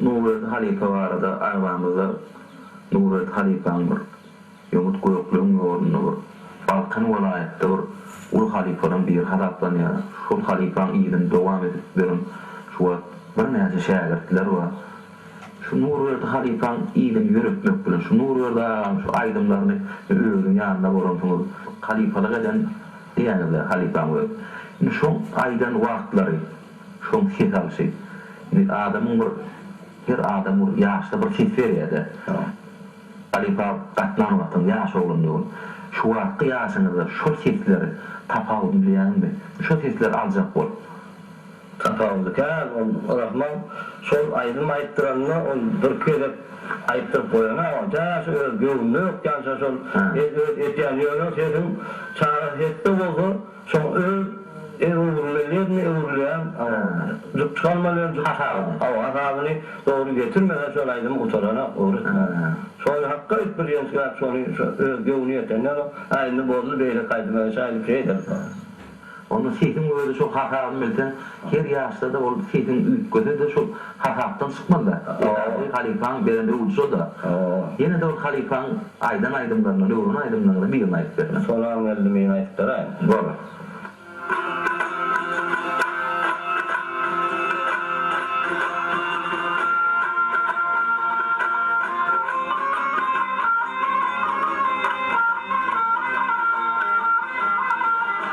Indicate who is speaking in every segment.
Speaker 1: Nuret halypa barada arzamyzda Nuret halypaň bir ýomut gökleň ýolunda bir Balkan welaýatda bir uly halypalaň biri hasaplanýar. Şol halypaň yzyny dowam edip beren şu wagt birnäçe şägirtler bar. Şu Nurberdi halypaň yzyny ýöretmek bilen şu Nurberdi agaň şu aýdymlaryny özüň ýanynda bolansyňyz halypalyk eden diýýäňizle halypaň özi. Indi şoň aýdan wagtlary. Şoň ses alşy. Indi adamyň bir her adam bir ýaşda bir ses berýärde. Halypa gatnan wagtyň ýaş oglan döwün. Şu wagtky ýaşyňyzda şol sesleri tapawudyny bilýäňizmi? Şo sesleri aljak bol. Tapawudy kän ol Rahman şol aýdym aýtdyranda ol birki gezek aýtdyryp goýan agam täşe öz göwnüne ýokýança şol öz etýän ýöne sesiň çagasy hepde bolsa Soň öz egöwrüleýlerini öwrülýän jukjygalmalyň azabyny dogry getirmese şol aýdym gutaranok öwretmän. Şony hakga aýt bir ýençgäp şony şu öz göwni ýetenden o aýdymy bozdy beýleki aýdyma geçäýdi şeýdel. Onda sesiň özi şo hasabyny bilseň Her ýaşda-da bolup sesiň üýtgese-de şol hasapdan çykmaz-da. Esasy halypaň beren öwüdi şol-da. Ýene-de bir halypaň aýdan aýdymlaryndan, öwren aýdymlaryňdan birini aýdyp berseň. Sonam geldi men aýdyp beraýyn. Bolar.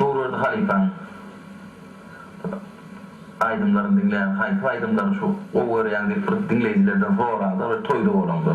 Speaker 1: Nurberdi halypaň aýdymlaryny diňläň, haýsy aýdymlaryny şu gowy görýäň diýip bir diňleýjilerden soranda bir toýda bolaňda.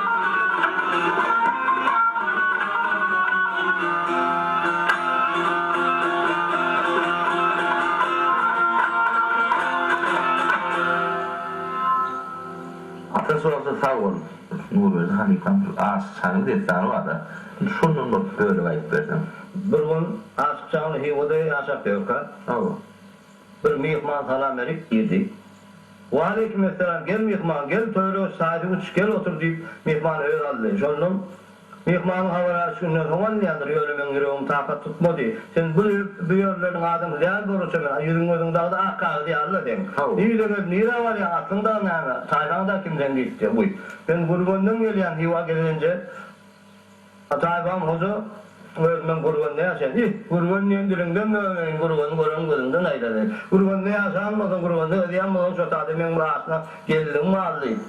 Speaker 1: Ata sorasa sag bol. Nurberdi halypam şu Aşyk çagyň dessany barda, indi şondan bir bölek aýdyp berseň. Bir gün Aşyk çagyň Hywada ýaşap ýörkä. Hawa. Bir myhman salam berip girdi. Waleýkim essalam, gel myhman, gel töwerege çaýdy uç, gel otur diýip, myhmany özi aldy. Şondan, Myhmanyň habar alyş günden soň alynýandyr, ýöne meň ýüregim takat tutmady. Sen bu bu ýerleriň adamsy däl bolurça men, a ýüzüň-gözüň dagda ak kagyz ýaly-la seň. Yzyňyz nirä barýaň, aslyň dagy näme, taýpaň dagy kimden diýipdi. Guý, men Gürgenden gelýän, Hywa gezelenje. Ataýewan hoja özünden Gürgende ýaşaýan. Ih, Gürgen diýen diliňden döneýin, Gürgeni gören gözüňden aýlaly. Gürgende ýaşan bolsaň, Gürgende özýän bolsaň, şo sada meň bir aşna gelnim bar diýip,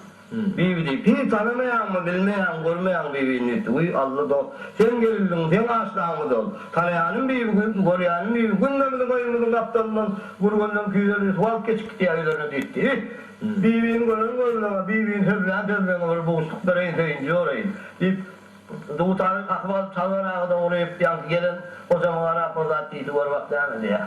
Speaker 1: Bibi diýip, Hiý, tanamaýaňmy, bilmeýäňmi, görmeýäňmi Bibini diýipdi. Wiý, Alla dost, seň gelinligiň, seň aşnaňmydy ol? Tanaýanym Bibi, görýänim Bibi. Günde biziň öýümiziň gapdalyndan Gürgenden küýzeli bir suwalt geçip gidýär öýlerine diýipdi. Ih! Bibiniň gören görnege, bibiniň sözlän sözleňe bir buşluk bereýin söýünji ýoreýin, diýip, dutary kakyp alyp, Çalgan aga dogry diýip, ýaňky gelen gojama garap, Bir zat diýdi gör bak näme diýýär.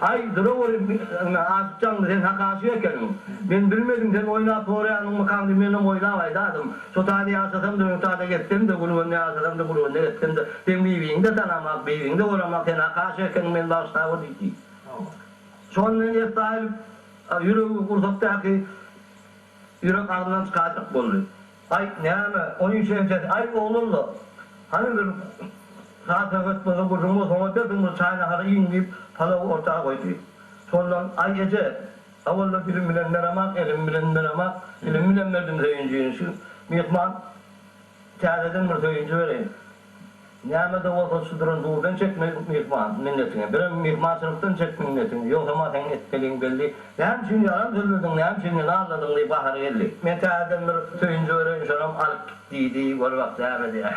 Speaker 1: Aý, duraweri biýr-ine, aşyk jaňly, sen hak aşyk ekeniň. Men bilmedim, sen oýnap borýanyňmykaňdyp menem oýnap aýdadym. Şo taýda ýaşasam-da, öň taýda getsem-de, gülgünde ýaşasam-da, gülgünde getsem-de, seň bibiňi-de tanamak, bibiňi-de göramak, sen hak aşyk ekeniň, meni bagyşlawer diýdi. Şony men ýesde aýlyp, ýüregi gursakdaky ýürek agzyndan çykarjak boldy. Aý, näme, oýun şenjesi, aý, oglalla, hany bir zat höwes boza gürrüň bolsaň ötersiň, bir çaý-nahary iýiň, diýip, palawy orta goýdy. Şondan, Aý, eje, gawalla dilim bilen meramak, elim bilen meramak, dilim bilen berdim söýünjini, şu myhman täzeden bir söýünji bereýin, Näme-de bolsa şu duran duzdan çek myhman minnetiňi, birem myhmançylykdan çek minnetiňi, ýogsam-a seň etmeliň belli. Näme üçin ýalan sözlediň, näme üçin meni aldadyň diýip gahary geldi. Men täzeden bir söýünji göreýin, şonam alyp git diýdi, gör bak näme edýär.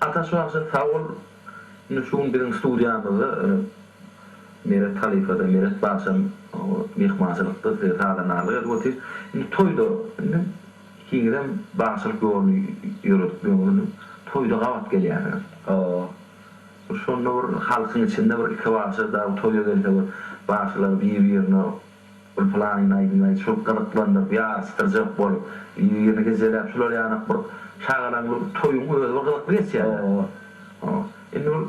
Speaker 1: Ataş bagşy sag bol indi şu gün biziň studiýamyzda Meret halypada Meret bagşam myhmançylykda size sazandarlyk edip otyr indi toýda indi ikiňizem bagşylyk ýoluny ýöredipdiňiz indi toýda gabat gelýärsiňiz bir şonda bir halkyň içinde bir iki bagşy dagy toýa gelse bir bagşylar bir birine Bir pylanyny aýdyň-aý, şul gyzyklandyryp, ýaryşdyrjak bolup, ýerine gejeläp, şular ýanak bir şagalaň bir toýuň özi bir gyzykly geçýär-dä. Ho-o. Indi bir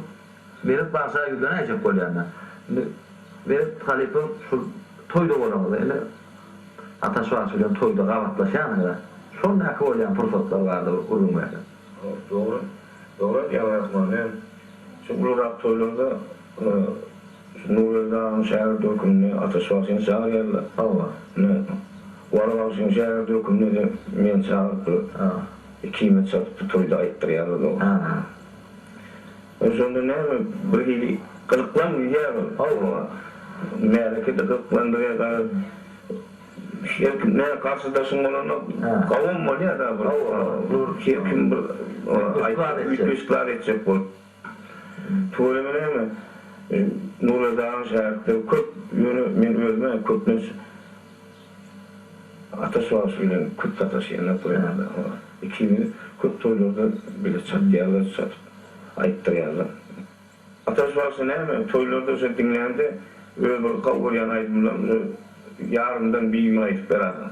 Speaker 1: Meret bagşa ýüzlenäýjek bolýan-da. Indi Meret halypa şul toýda bolaňyz-da. Indi Ataş bagşy bilen toýda gabatlaşýanyňyz-a. Şondaky bolýan pursatlar bardyr, gürrüň berseň. Dogry. Dogry aýdýaň Rahman. Men şu ulurak toýlarda şu Nurberdi agaň şägirdi höküminde Ataş bagşyny çagyrýarlar. Hawa. Ine, Wara bagşynyň şägirdi höküminde-de meni çagyryp bir ikimizi çatyp bir toýda aýtdyrýarlar ol. Ol şonda näme birhili gyzyklandy diýýär ol. Hawa. Märeke-de gyzyklandy we gaýrat Her kim näme garşydaşyň bolanda gawun bolýar da bir dur her kim bir aýtjak ykrar etjek bolup. Tuweleme näme Nurledagyň şägirtleri köp ýöne men özüme köplenç Ataş bagşy bilen köp sataşýanlar toýlarda ikimiz köp toýlarda bile çatýarlar çatyp aýtdyrýarlar. Ataş bagşy näme, toýlarda şo diňlände öz bir gowy görýän aýdymlaryny şo ýarymdan bir gün aýdyp berarsiň.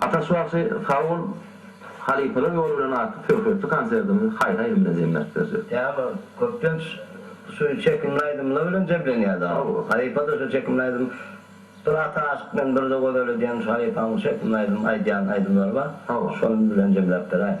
Speaker 1: Ataş bagşy sag bol Halypalar ýoly bilen atly söhbetli konserdiňizi haýhaýym bilen jemläp berjek. Teyama köplenç şu çekimli aýdymlar bilen jemlenýär dagy. Halypa-da şu çekimli aýdym Bir ata aşyk bilen bir de gözel edýän şu halypanyň çekimli aýdym aýdýan aýdymlary bar. Şonuň bilen jemläp beräýiň.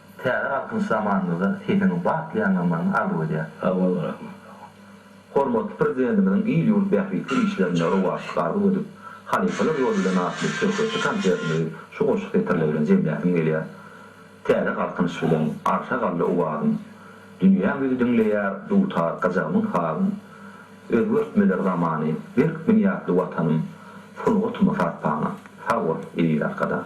Speaker 1: Täze Galkynyş zamanymyzda sesiňi batly ýaňlanmagyňy arzuw edýärin. Sag bol Rahman sag bol. Hormatly Prezidentimiziň il-ýurt bähbitli işlerinde rowaçlyk arzuw edip, Halypalar ýoly bilen atly şöhratly konsertimizi şu goşgy setirler bilen jemläsim gelýär. Täze Galkynyş bilen arşa galdy owazym. Dünýäň ýüzi diňleýär dutar gajagymyň sazyn. Özgertmeler zamany, berk binýatly Watanym, sungatyma sarpaňa. Sag bol, eziz Arkadag!